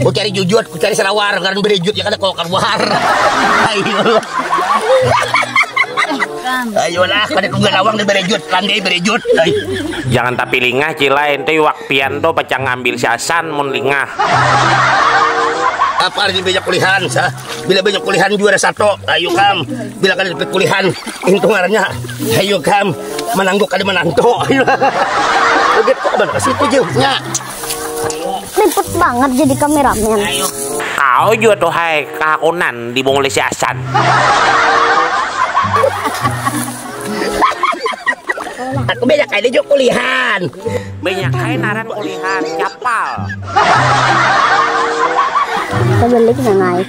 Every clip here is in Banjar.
Ku cari jujut, ku cari sarawar, karena berejut ya kada kau keluar. Ayo. Ayolah, kada tunggu lawang dan berejut, landai berejut. Jangan tapi lingah cilai, ente iwak pian tuh pacang ambil si Hasan mun lingah. Apa lagi banyak kulihan, sah. Bila banyak kulihan juara satu, ayo kam. Bila kada dapat kulihan, itu ngarannya Hayu kam, manangguk kada manantu. Udah kabar ke situ jauhnya. Liput banget jadi kameramen. Kau juga tuh hai kahakunan dibunguli si Asan. Aku banyak kali juga kulihan. Banyak kali naran kulihan, capal. Terbalik nang naik.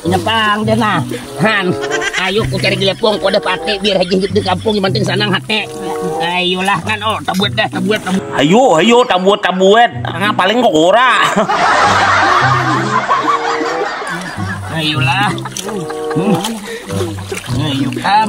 Nyepang dia nah. Han, ayo ku cari gelepong ku ada pate biar haji hidup di kampung yang penting sanang hati. Ayolah kan oh tabuat dah tabuat tabuat. Ayo ayo tabuat tabuat. Ah, paling kok ora. ayolah. Hmm. Ayo kam.